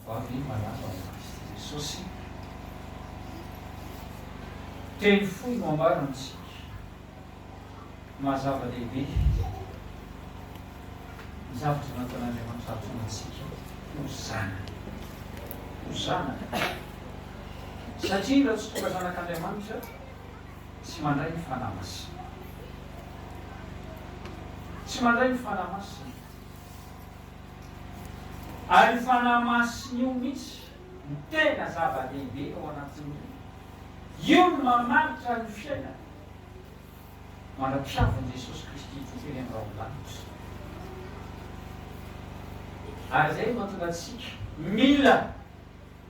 Fa ve manana ho azy Jesosy? Teny fohy no ambara amintsika maha zava-dehibe ny zavatra nataon'Andriamanitra hahatonga antsika ho zanany. Ho zanany. Satria raha tsy tonga zanak'Andriamanitra, tsy mandray ny Fanahy Masina. Tsy mandray ny Fanahy Masina. Ary io Fanahy Masina io mihitsy no tena zava-dehibe ao anatin'ny olona. Io no mamaritra ny fiainana mandra-pihavin'i Jesosy Kristy Tompo eny amin'ny rahondanitra. Ary izay no mahatonga antsika mila.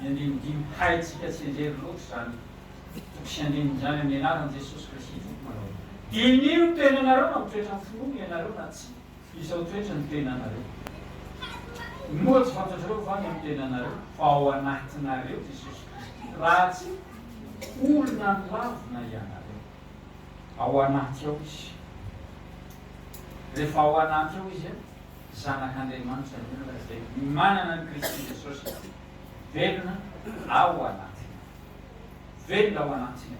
Ny andinindiny haintsika tsy enjery loatra izany fa tsy andinindrany amin'ny anaran'i Jesosy Kristy Tompo manao. Diniho ny tenanareo na mitoetra amin'ny finoana ianareo na tsia, izao toetra ny tenanareo. Moa tsy fantatrareo va ny amin'ny tenanareo fa ao anatinareo Jesosy Kristy raha tsy olona nilavina ianareo? Ao anaty ao Izy. Rehefa ao anaty ao Izy a. zanak'Andriamanitra ny olona izay manana an'i Kristy Jesosy velona ao anatiny. Velona ao anatiny.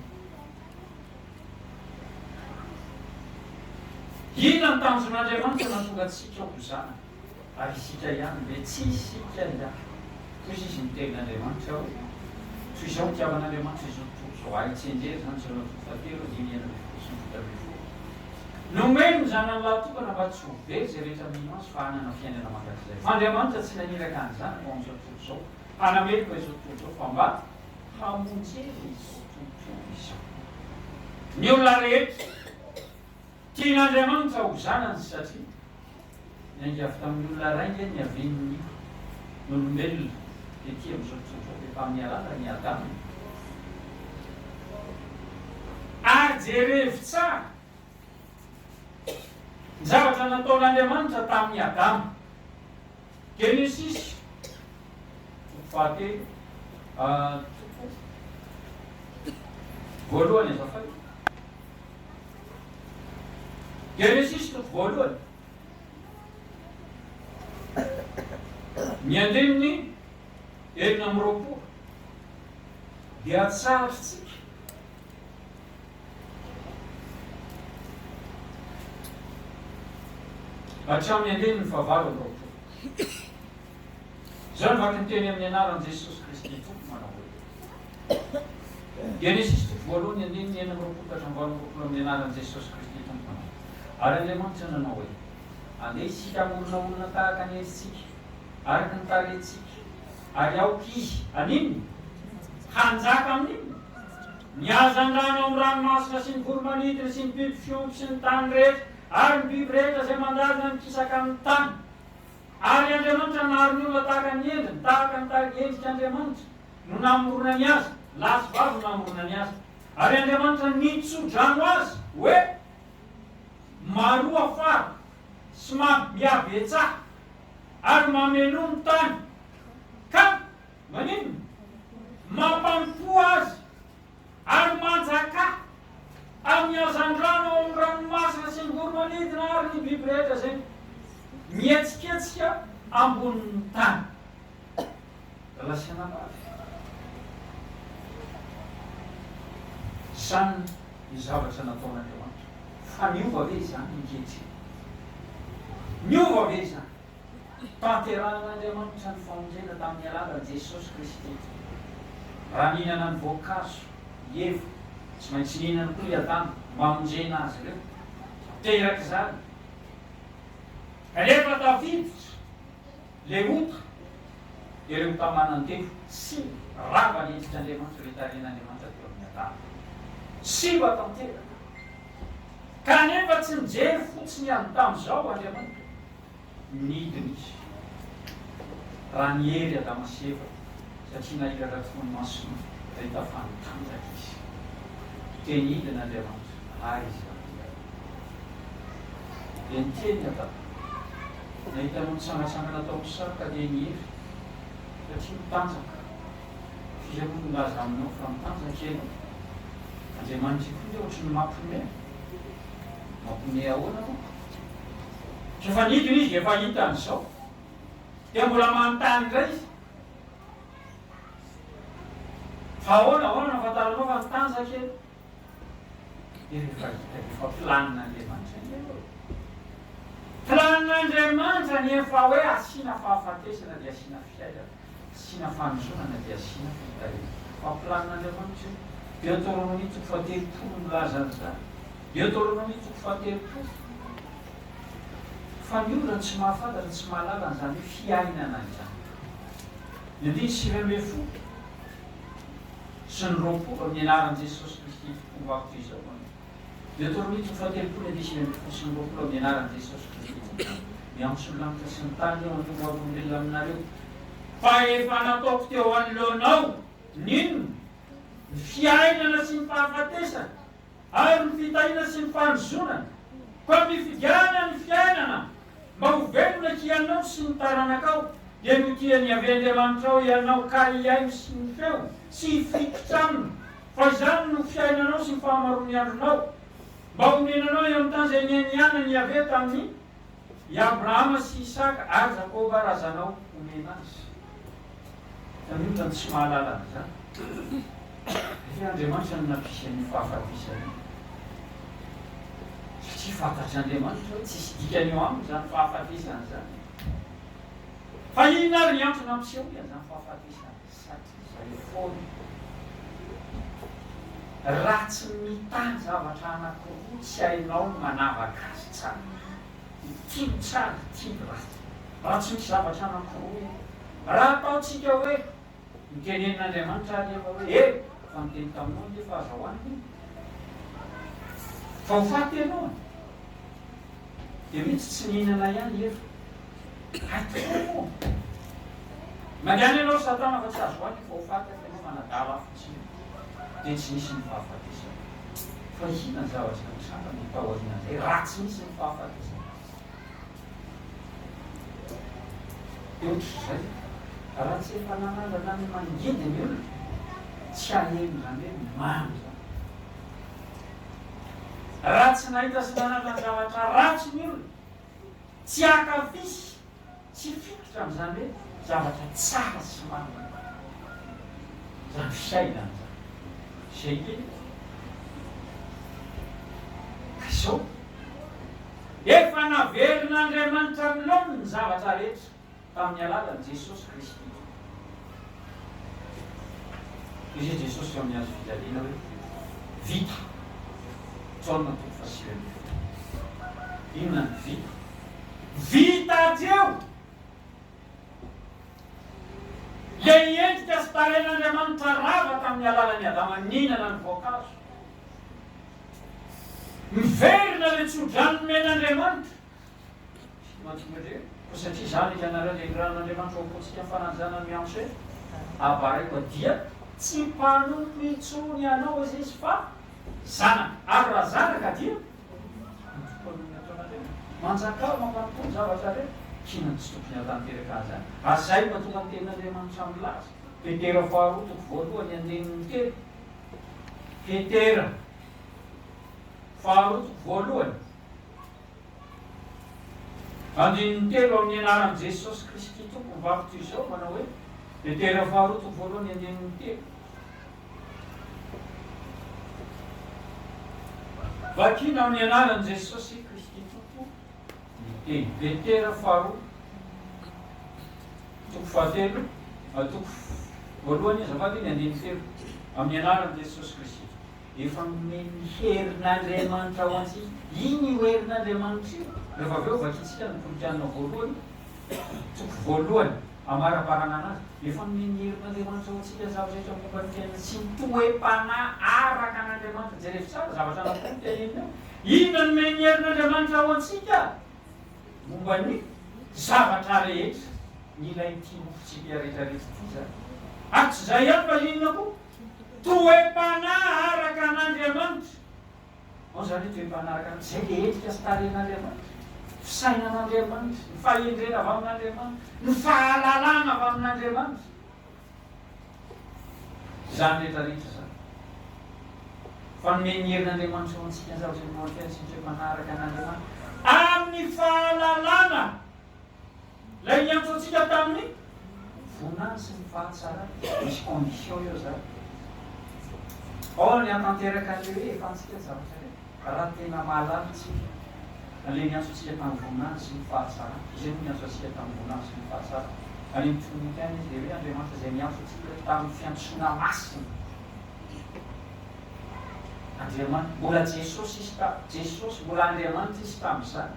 Inona ny tanjon'Andriamanitra nahatonga antsika ho zanany? Ary isika ihany ve? Tsy isika ihany. Toy izao izy niteny Andriamanitra hoe, Toy izao nitiavan'Andriamanitra izao tontolo izao. Ahy tsenjery izany izao na toa fahatelo, dimy, enina ambin'ny folo sy ny fito ambin'ny folo. Nomeny ny Zanany lahatokana mba tsy ho very izay rehetra mino Azy fa hanana fiainana mandrakizay. Fa Andriamanitra tsy naniraka ny Zanany ho amin'izao tontolo izao, hanamely fa izao tontolo izao, fa mba hamonjena izao tontolo izao. Ny olona rehetra tian'Andriamanitra ho zanany satria. Niainga avy tamin'ny olona ray nge ny avenue n'olombelona dia tia misaotraotra be fa miarahaba an'i Adama e. Ary jerevo tsara ny zavatra nataon'Andriamanitra tamin'i Adama. Genesis toko fahatelo toko voalohany azafady. Genesisy toko voalohany. Ny andininy enina amby roapolo dia tsarintsika hatramin'ny andininy fahavalo amby roapolo. Izao no vaky ny teny amin'ny anaran'i Jesosy Kristy Tompo manao hoe. Genesisy toko voalohany andininy enina amby roapolo ka hatramin'ny valo amby roapolo amin'ny anaran'i Jesosy Kristy Tompo manao hoe. Ary Andriamanitra nanao hoe. Andeha isika hamorona olona tahaka ny endritsika, araka ny tarehintsika, ary aoka izy haninona? hanjaka amin'ny inona? Ny hazandrano amin'ny ranomasina sy ny voromanidina sy ny biby fiompy sy ny tany rehetra ary ny biby rehetra izay mandady na mikisaka amin'ny tany. Ary Andriamanitra nahary ny olona tahaka ny endriny, tahaka ny tarigy endrik' Andriamanitra no namoronany azy, lahy sy vavy no namoronany azy. Ary Andriamanitra nitso-drano azy hoe, Maroa fara sy mambiabetsaha, ary mameloa ny tany, ka, maninona? mampampoha azy Any Manjaka, amin'ny hazandrano ao amin'ny ranomasina sy ny voromanidina ary ny biby rehetra izay mihetsiketsika ambonin'ny tany. Lasianambavy. Izany ny zavatra nataon'Andriamanitra. Fa niova ve izany ankehitriny? Niova ve izany? Tanterahin'Andriamanitra ny famonjena tamin'ny alalan'i Jesosy Kristy. Raha nihinana ny voankazo i Eva, tsy maintsy nihinana koa i Adama, mamonjena azy ireo. Teraka izany. Kanefa tafiditra ilay ota, dia ireo ota manandevo tsy rava ny endrik'Andriamanitra, ilay tarehin'Andriamanitra teo amin'i Adama. Simba tanteraka. Kanefa tsy nijery fotsiny an'i tamin'izao Andriamanitra. Nidina izy, raha ny hery Adama sy Eva, satria nahiratra tokoa ny masony nahita fa nitanjaka izy. Dia nidina Andriamanitra, ary Izy nandeha. Dia niteny i Adama, Nahita anao nitsangantsangana tao amin'ny sary ka dia nihery, satria nitanjaka. F'iza moa no nilaza aminao fa nitanjaka ianao? Andriamanitra ikoa dia ohatry ny mampiomehy. Mampiomehy ahoana, tompoko? Rehefa nidina izy dia efa hitany izao. Dia mbola manontany indray izy. Fa ahoana, ahoana no ahafantaranao fa mitanjaka e? Dia rehefa hitany efa planin'Andriamanitra indray eo e. Planin'Andriamanitra ny efa hoe asiana fahafatesana dia asiana fiainana. Asiana fanozonana dia asiana fitariana. Mampilamin'Andriamanitra io. Deoteronomia toko fahatelopolo no milaza an'izany. Deoteronomia toko fahatelopolo. Fa ny olona tsy mahafantatra, tsy mahalala an'izany hoe fiainana izany. Ny andininy sivy ambin'ny folo sy ny roapolo amin'ny anaran'i Jesosy Kristy tokoa ho ato izao an. Dia atao mihitsy ho fahatelopolo ane sivy ambin'ny folo sy roa roapolo amin'ny anaran'i Jesosy Kristy Tomponay. Miantso ny lanitra sy ny tany aho hanome ho avy olombelona aminareo. Fa efa nataoko teo anoloanao ny inona? Ny fiainana sy ny fahafatesana, ary ny fitahiana sy ny fanozonana. Koa mifidiana ny fiainana mba ho velona hianao sy ny taranakao, dia notian'i Yaveh Andriamanitrao hianao ka hihaino sy ny feo sy hifikitra aminy. fa izany no fiainanao sy ny fahamaroan'ny andronao, mba honenanao eo amin'ny tany izay nianianan'i Iaveh tamin'i Abrahama sy Isaka ary Jakoba razanao homena azy. Fa ny olona no tsy mahalala an'izany. Ve Andriamanitra no nampisy an'io fahafatesana io? Satria fantatr'Andriamanitra hoe tsisy dikany eo aminy izany fahafatesana izany. Fa inona ary ny antony nampisehoany an'izany fahafatesana izany? Satria izay foana. Raha tsy mitahy zavatra anankiroa tsy hainao ny manavaka azy tsara, dia tia ny tsara, tia ny ratsy. Raha tsy misy zavatra anankiroa io. Raha ataontsika hoe, nitenenin'Andriamanitra àry ianao hoe, He! Fa niteny taminao anie fa aza hohanina iny. Fa ho faty ianao an! Dia mety tsy nihinana ihany i Eva. Hay tokoa moa! Mandiana ianao ry Satana fa tsy azo hohanina io vahofaty hafa ianao manadala afo tsy ela dia tsy nisy ny fahafatesana. Fa inona ny zavatra nitranga no tao aorianan'izay raha tsy nisy ny fahafatesana? Dia ohatr'izay, raha tsy efa nanandrana ny mangidy ny olona, tsy haheno izany hoe mamy izany. Raha tsy nahita sy nanana zavatra ratsy ny olona, tsy hankafy sy hifikitra amin'izany hoe zavatra tsara sy marina izany fiainana izany. Izay ny teniko. Ka izao, efa naverin'Andriamanitra amin'ny laoniny ny zavatra rehetra. tamin'ny alalan'i Jesosy Kristy. Hoy i Jesosy amin'ny hazo fijaliana hoe, Vita! Jaona toko fahasivy ambin'ny folo. Inona no vita? Vita hatreo ilay endrika sy tarehin'Andriamanitra rava tamin'ny alalan'i Adama nihinana ny voankazo. Miverina ilay tsodrano nomen'Andriamanitra Koa satria izany hianareo nenirahan' Andriamanitra ho apotsika ny fananjanany mianche abareko dia tsy mpanompo intsony anao aza izy fa zanaka, ary raha zanaka dia mitompo an'io nataon' Andriamanitra. Manjakà mampanompo ny zavatra rehetra, kinan' tsy tokony hatanteraka an'izany. Ary izay mahatonga ny tenin' Andriamanitra milaza, Petera faharoa toko voalohany andininy telo, Petera faharoa toko voalohany. Andininy telo amin'ny anaran'i Jesosy Kristy Tompo vakotra izao manao hoe, Petera faharoa toko voalohany andininy telo. Vakina amin'ny anaran'i Jesosy Kristy Tompo ny teny Petera faharoa toko fahatelo toko voalohany azafady ny andininy telo amin'ny anaran'i Jesosy Kristy Tompo. efa nomen'ny herin'Andriamanitra ho antsika. Iny io herin'Andriamanitra io, rehefa avy eo vakintsika ny Toronk'anona voalohany, toko voalohany, amarabarana anazy, efa nomen'ny herin'Andriamanitra ho antsika ny zavatra rehetra momba ny fiainana sy ny toe-panahy araka an'Andriamanitra. Jerevy tsara zavatra anankiroa no teneniny ao. Inona no nomen'ny herin'Andriamanitra ho antsika momba ny zavatra rehetra? Ny ilay tia nofontsika rehetra rehetra ity izany. Ary tsy izay ihany fa inona koa? Toe-panahy araka an'Andriamanitra. Ao izany hoe toe-panahy araka ny izay dia endrika sy tarehin'Andriamanitra, ny fisainan'Andriamanitra, ny fahendrena avy amin'Andriamanitra, ny fahalalana avy amin'Andriamanitra. Izany rehetra rehetra izany. Fa nomen'ny herin'Andriamanitra ho antsika ny zavatra ny maha-mpiaintsy ny toe-panahy araka an'Andriamanitra amin'ny fahalalana. Ilay niantso antsika tamin'ny vonany sy ny fahatsarany. Misy condition eo zany. Or ny hatanteraka an'le hoe efantsika ny zavatra reny, raha tena mahalala antsika an'le niantso antsika tamin'ny voninahiny sy ny fahatsarany. Izay no niantso antsika tamin'ny voninahiny sy ny fahatsarany. Any amin'ny Trinite any izy dia hoe Andriamanitra izay niantso antsika tamin'ny fiantsoana masina. Andriamanitra, mbola Jesosy izy tamin'izany. Jesosy, mbola Andriamanitra izy tamin'izany.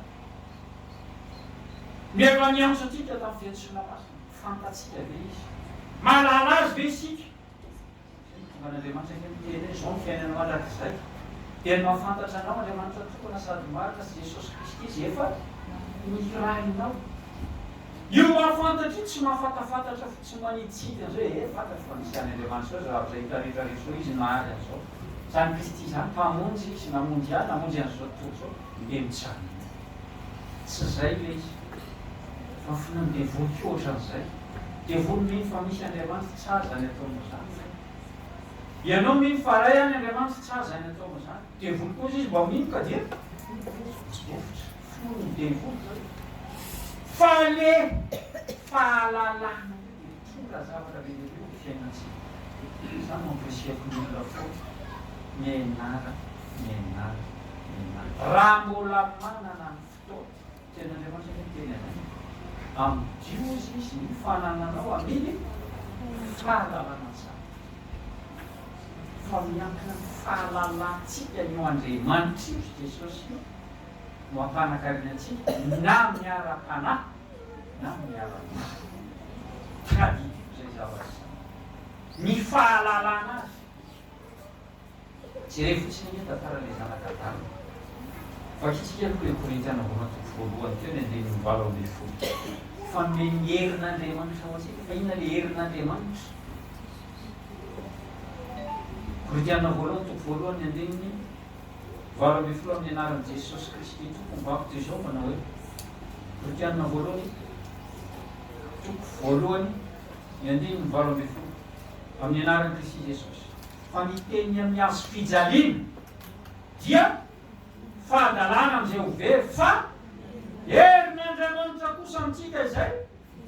Mialoha ny hiantso antsika tamin'ny fety sy lamasa, fantatsika ve Izy? Mahalala Azy ve isika? Satria ny tonga an'Andriamanitra anie miteny hoe, Izao ny fiainana mandrakizay, dia ny mahafantatra Anao, Andriamanitra tokana sady marina, sy Jesosy Kristy Izay efa nihirahinao. Io mahafantatra io tsy mahafatafantatra fotsiny manitsintina izao hoe, ee, fantatro fa nisy any Andriamanitra izao zavatra hita rehetra rehetra izao, Izy nahary an'izao. Izany Kristy izany, Mpamonjy Izy, namonjy ahy, namonjy an'izao tontolo izao, dia mijanona eo. Tsy zay ilay izy fa finoan'ny devoly koa ohatran'izay. Devoly mino fa misy Andriamanitra, tsara izany ataonao izany ve? Ianao mino fa Ray any Andriamanitra, tsara izany ataonao izany. Devoly koa izy mba mino ka dia mivofotra. Finoan'ny devoly izao e. Fale fahalalana. Tonga zavatra be dia be ny fiainantsika. Za no ampirisiako ny olona foana. Mianara, mianara, mianara. Raha mbola manana ny fotoana. Teny Andriamanitra ve ny teny anay? Amdio ozy izy ny fanananao aminy fahalalana ny zavatra. Fa miankina amin'ny fahalalantsika an'io Andriamanitra io sy Jesosy io no ampanakarena antsika na miara-panahy na ny ara-nofo. Tadidiko izay zavatra izay. Ny fahalalana azy. Jerevo fotsiny anie ny tantaran'ilay zanaka Adama. Vakintsika aloha ilay Korintiana voalohany toko voalohany teo ny andininy valo ambin'ny folo. Fanome ny herin'Andriamanitra ho antsika. Fa inona ilay herin'Andriamanitra? Korintiana voalohany toko voalohany ny andininy valo ambin'ny folo Amin'ny Anaran'i Jesosy Kristy Tompo, mibabo dia izao manao hoe, Kristianina voalohany, toko voalohany, ny andininy valo ambin'ny folo, Amin'ny Anaran'i Kristy Jesosy. Fa ny teniny amin'ny hazo fijaliana dia fahadalana amin'izay ho very, fa herin'Andriamanitra kosa amintsika izay.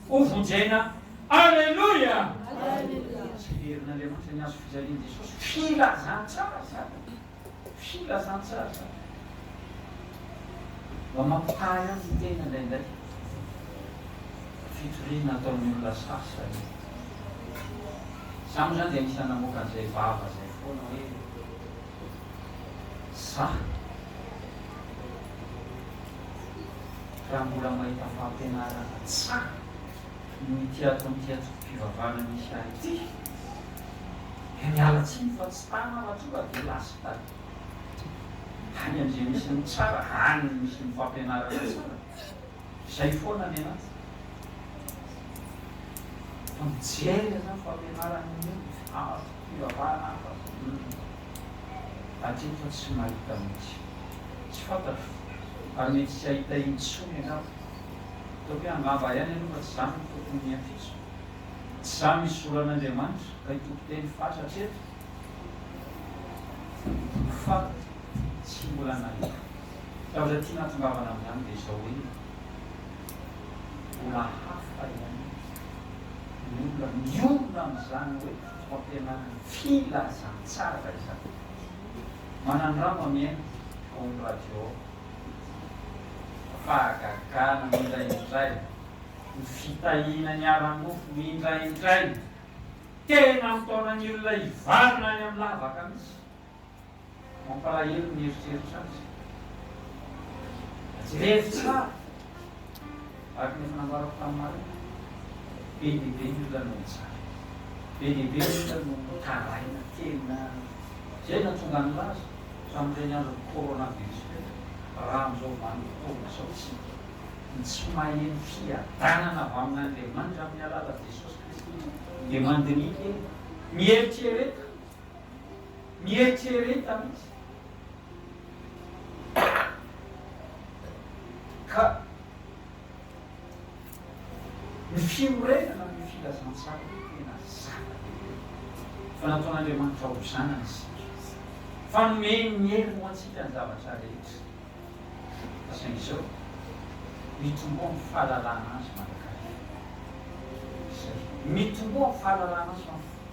ho vonjena. Aleloia! Izay herin'Andriamanitra ny hazo fijalian'i Jesosy. Filazantsara izany e! Filazantsara izany. Mba mampitahy azy ny tena indraindray. Fitoriana ataon'ny olona sasany. Izaho moa izany dia anisan'ny namoaka an'izay vava izay foana hoe. za raha mbola mahita fampianarana tsara noho ity ataon'ity antokom-pivavahana misy ahy ity dia miala tsiny fa tsy tara aho raha tonga dia lasta any andriamisy ny tsara any misy ny fampianarana tsara Izay foana ny anaty. Fa mijery aza ny fampianarany anie hafa sy fivavahana hafa sy humm. Hatreto tsy mahita mihitsy. Tsy fantatro ary mety tsy hahita intsony angamba. Ataoko hoe angamba ihany aloha fa tsy izany no tokony hiampitso. Tsy izany izoran'Andriamanitra ka itokoteny fatra hatreto fa tsy mbola nahita. Zavatra tiana atongavana amin'izany dia izao hoe, mbola hafa ihany ny olona miorina amin'izany hoe fampianarana filazantsara izany. Manandrama mihaino fotoan'ny radio aho, fa fahagagana indraindray, ny fitahiana ny ara-nofo indraindray, tena mitaona ny olona hivalona any amin'ny lavaka mihitsy. Mampalahelo ny mieritreritra azy. Jereo tsara, araka ny efa nambarako tamin'ny maraina, be dia be ny olona no mijaly, be dia be ny olona no mitaraina, tena izay no nahatonga nilaza tamin'ireny andron'ny coronavirus ireny fa raha amin'izao vanim-potoana izao isika no tsy maheno fiadanana avy amin'Andriamanitra amin'ny alalan'i Jesosy Kristy dia mandiniha kely, mieritrereta. mieritrereta mihitsy ka ny fiorenana ny filazantsara dia tena zava-dehibe fa nataon'Andriamanitra ho zanany isika fa nomeny ny hery ho antsika ny zavatra rehetra fa saingy izao mitomboa ny fahalalana azy mandrakariva izay mitomboa ny fahalalana azy mandrakariva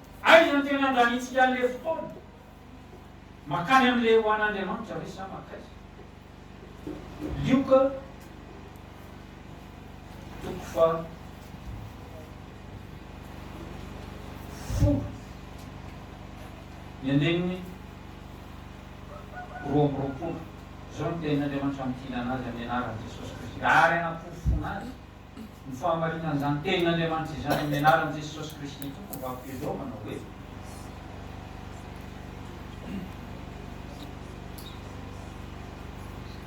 Aiza no tena andaniantsika an'ilay fotoana? Mankany amin'ilay ho an'Andriamanitra ve sa mankaiza? Lioka toko faha folo ny andininy roa amby roapolo, Izao no tenin'Andriamanitra mitilana azy amin'ny anaran'i Jesosy Kristy, ary hanaporofona azy. Ny fahamarinan'izany tenin'Andriamanitra izany amin'ny anaran'i Jesosy Kristy Tompo vaky velao manao hoe.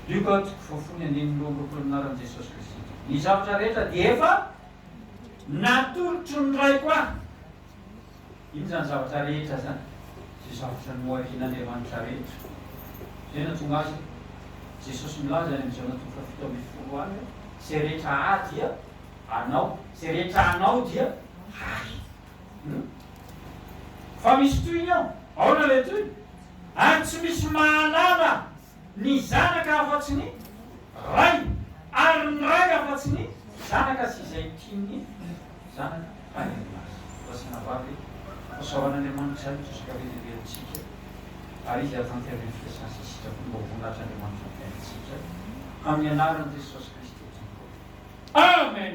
Lioka toko fahafolo andininy roa amby roapolo Anaran'i Jesosy Kristy Tompo. Ny zavatra rehetra dia efa natolotro ny Raiko ahy. Inona izany zavatra rehetra izany? Izay zavatra noharian'Andriamanitra rehetra izay nahatonga azy hoe, Jesosy milaza any amin'ny Jaona toko fahafito ambin'ny folo any hoe, Izay rehetra Ahy dia Anao, izay rehetra Anao dia Ahy. Humm. Fa misy tohiny ao. Aona ilay tohiny? Ary tsy misy mahalala ny zanaka afa-tsy ny ray, ary ny ray afa-tsy ny zanaka sy izay tia ny zanaka any amin'ny maso. Rasaina vavy e! Hosaoran' Andriamanitra ny trosa ankavizivelotsika, ary Izy hahatanteraka ny fiasany sy ny sitrapony mba ho voninahitr' Andriamanitra ny fiainantsika, amin'ny anaran'i Jesosy Kristy Tompo. Amen!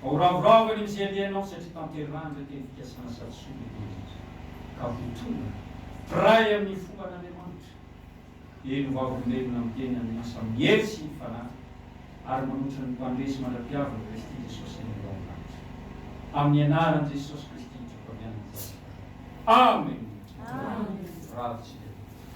Vao ravoravo any amin'izay andeha hanao satria tanterahindray teny fikasana sady soa lehibe indrindra ka vao tonga mpiray amin'ny fombàn'Andriamanitra dia novavolombelona miteny amin'ny asa amin'ny hery sy ny fanahy ary manoatra ny mpandresy mandra-piavin'i Kristy Jesosy any an-daolanitra. Amin'ny anaran'i Jesosy Kristy hitroko avy any ny zavatra. Amena! Ravintsika.